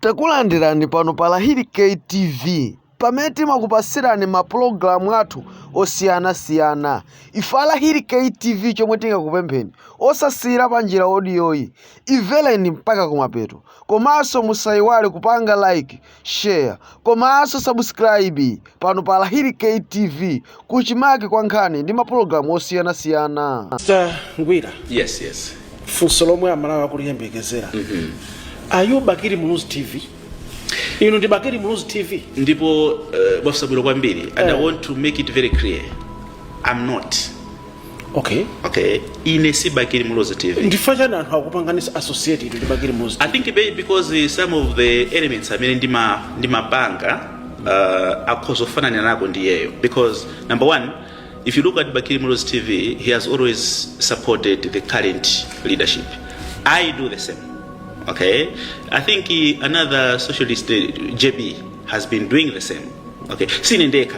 Takulandirani pano pa Lahiri K TV pamene timakupasirani mapulogalamu athu osiyanasiyana ife a Lahiri K TV chomwe tingakupempheni osasiyira panjira odiyoyi imvereni mpaka kumapeto komanso musayiwale kupanga like share komanso subscribe pano pa Lahiri K TV kuchimake kwa nkhani ndi mapulogalamu osiyanasiyana. Mr. Ngwira, Yes, yes. funso lomwe amalawi akuliyembekezera are you bakili muluzi tv inu ndi bakili muluzi tv Ndipo uh, mwafunsa bwino kwambiri and I want to make it very clear. I'm not. okay okay ine si bakili muluzi tv ndi chifukwa chani anthu akupanganisa associated ndi bakili muluzi i think maybe because uh, some of the elements amene ndima ndimapanga uh, akhoza kufananako ndiyeyo because number one if you look at bakili muluzi tv he has always supported the current leadership i do the same okay i think uh, another socialist uh, jb has been doing the same okay sine ndekha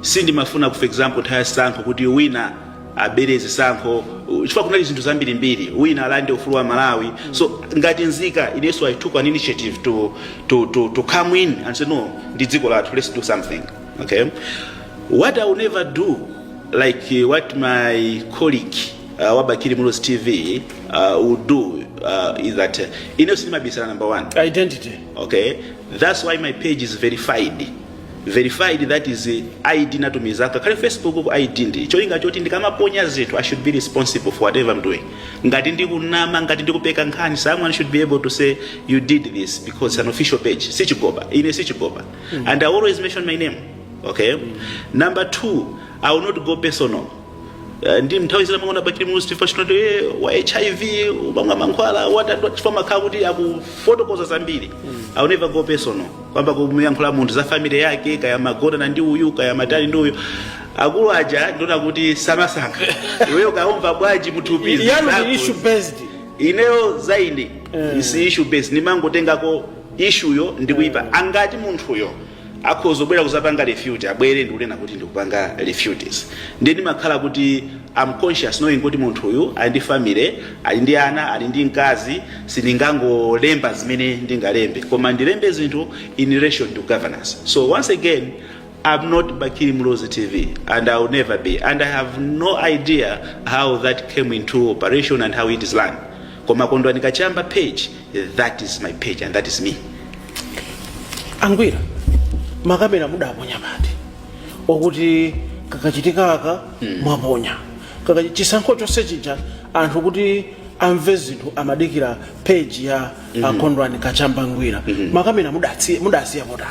sindimafuna for example nthawi ya zisankho kuti wina abere zisankho chifukwa kunali zinthu zambirimbiri wina alande ufulu wa malawi so ngati nzika inenso i took an initiative to, to, to, to come in and say no ndi dziko lathu let's do something okay what i will never do like uh, what my colleague uh, wa bakili muluzi tv uh, will do uh, is that uh, ine sindimabisala number one identity okay that's why my page is verified verified that is id natumiza kale facebook ku id ndi cholinga choti ndikamaponya zinthu i should be responsible for whatever i'm doing ngati ndikunama ngati ndikupeka nkhani someone should be able to say you did this because it's an official page sichigoba ine sichigoba and i always mention my name okay number two i will not go personal Eh, ndi nthawi zina mwaona bakili muluzi tv achina uti eh, wa hiv umamwa mankhwala watani chifukwa amakhala kuti akufotokoza zambiri i will never go personal kuyamba kumuyankhula munthu za family yake kaya magonana ndi uyu kaya matani ndi uyu akulu aja ndiona kuti samasankha iweyo kaya umva bwanji mthupi ndi zako. ine issue based ineyo zaine ndi issue based nimangotengako issue yo ndikuipanga kuti munthuyo akhoza kubwera kuzapanga refute abwere ndikunena kuti ndikupanga refutes ndiye ndimakhala kuti am conscious knowing kuti munthu uyu ali ndi family ali ndi ana ali ndi mkazi sindingangolemba zimene ndingalembe koma ndilembe zinthu in relation to governance so once again I'm not Bakili Muluzi TV, and I'll never be. And I have no idea how that came into operation and how it is run. Koma Kondwani Kachamba page That is my page and that is me. angwira makamera mudaponya pati wokuti kakachitika aka mwaponya Kaka- chisankho chonse chija anthu kuti amve zinthu amadikira page ya a kondwani kachamba ngwira makamera mudatsi- mudasiya potani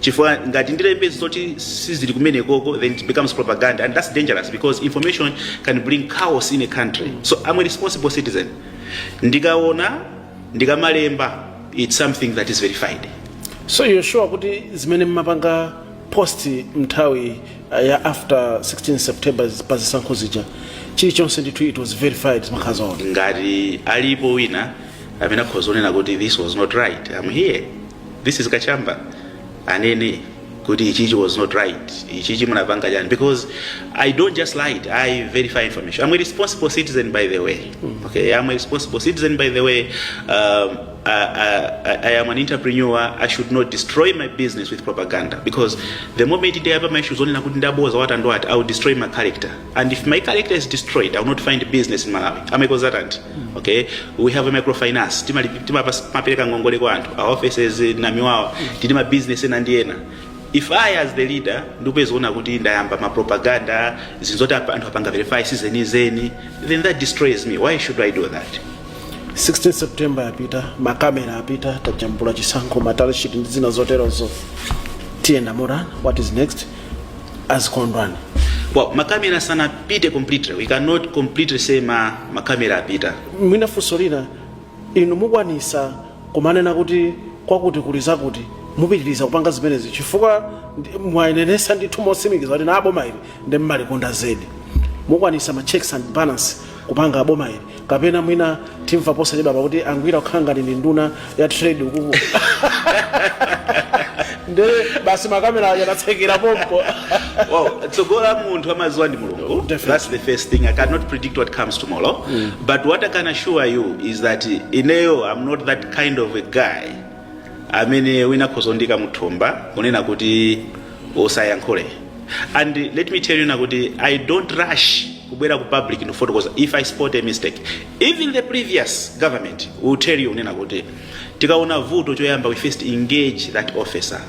chifukwa ngati ndilembe zoti sizili kumenekoko then it becomes propaganda and that's dangerous because information can bring chaos in a country so i'm a responsible citizen ndikaona ndikamalemba it's something that is verified so you're sure kuti zimene mmapanga post mnthawi uh, ya after 16 september pa zisankho zija chilichonse ndithu it was verified zimakhala zoona ngati alipo wina amene akhoza kunena kuti this was not right i'm here this is kachamba anene kuti ichichi was not right ichichi munapanga chani because i don't just lied i verify information i'm a responsible citizen by the way okay i'm a responsible citizen by the way um, I, I, I am an entrepreneur i should not destroy my business with propaganda because the moment ndiyapa maishu zonena kuti ndaboza watandwati i will destroy my character and if my character is destroyed i will not find business in malawi am a consultant okay we have a microfinance Timali- timapas- timapereka ngongole kwa anthu our offices in namiwawa tili ndi ma business ena ndi ena if i as the leader ndikupezeka kuti ndayamba ma propaganda zinthu zoti apa- anthu apanga verify sizenizeni then that destroys me why should i do that 16 september yapita makamera apita tajambula chisankho ma tally sheet ndi zina zoterozo tiyenda motani what is next as Kondwani. Well, makamera sanapite completely. We cannot completely say makamera apita. Mwina funso lina inu mukwanisa kumanena kuti kwakuti kuli zakuti mupitiriza kupanga zimenezi chifukwa ndi- mwanenetsa ndithu motsimikiza kuti boma ili nde mmalikonda zedi mukwanisa ma checks and balance kupanga boma ili kapena mwina timva posachedwapa kuti angwira kukhala ngati ndi nduna ya trade ukuku nde basi makamera yanatsekera pompo well, tsogolo la munthu amaziwa ndi mulungu Definitely. that's the first thing i cannot predict what comes tomorrow but what i can assure you is that ineyo i'm not that kind of a guy amene wina akhoza kundiika muthumba kunena kuti usayankhule and let me tell you kunena kuti i don't rush kubwera ku public ndikufotokoza because if i spot a mistake even the previous government will tell you kunena kuti tikaona vuto choyamba we first engage that officer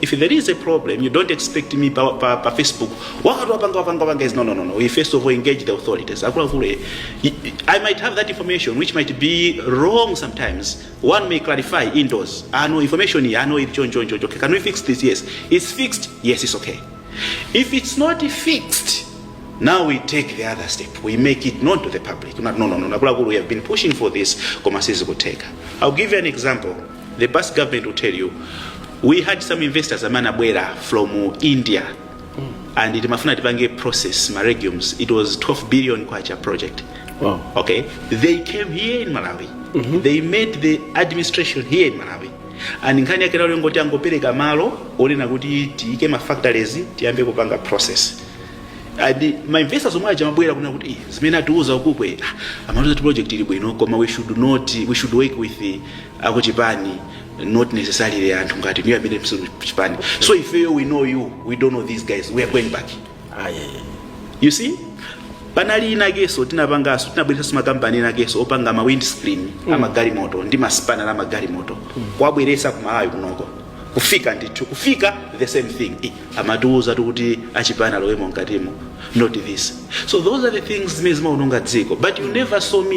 if there is a problem you don't expect me pa, pa, pa facebook wakati wapanga wapanga wapanga is no no no no we first of all engage the authorities akuluakulu eh, i I might have that information which might be wrong sometimes one may clarify indoors ah no information here ah no it john john john okay can we fix this yes it's fixed yes it's okay if it's not fixed now we take the other step we make it known to the public no no no no akuluakulu we have been pushing for this koma sizikuteka i'll give you an example the past government will tell you we had some investors amene anabwera from india and timkafuna tipange process ma legumes it was 12 billion kwacha project Wow. okay they came here in malawi they met the administration here in malawi and nkhani yake inali ngoti angopereka malo onena kuti tiike ma factories tiyambe kupanga process and ma investors omwe aja amabwera kunena kuti "Ih, zimene atiuza ukuku eh ah, amatiuza kuti project ili bwino koma we should not we should work with eh, akuchipani not necessarily anthu ngati inuyo amene simuli chipani so if you we know you we don't know these guys we are going back ayi you see panali inanso tinapangaso tinabweresaso ma company inanso opanga ma windscreen mm. amagalimoto ndi masipanala a magalimoto kuwabweresa ku malawi kuno kufika ndithu kufika the same thing I- amatiuza kuti achipani alowemo mkatimo not this so those are the things zimene zimaononga dziko but you never saw me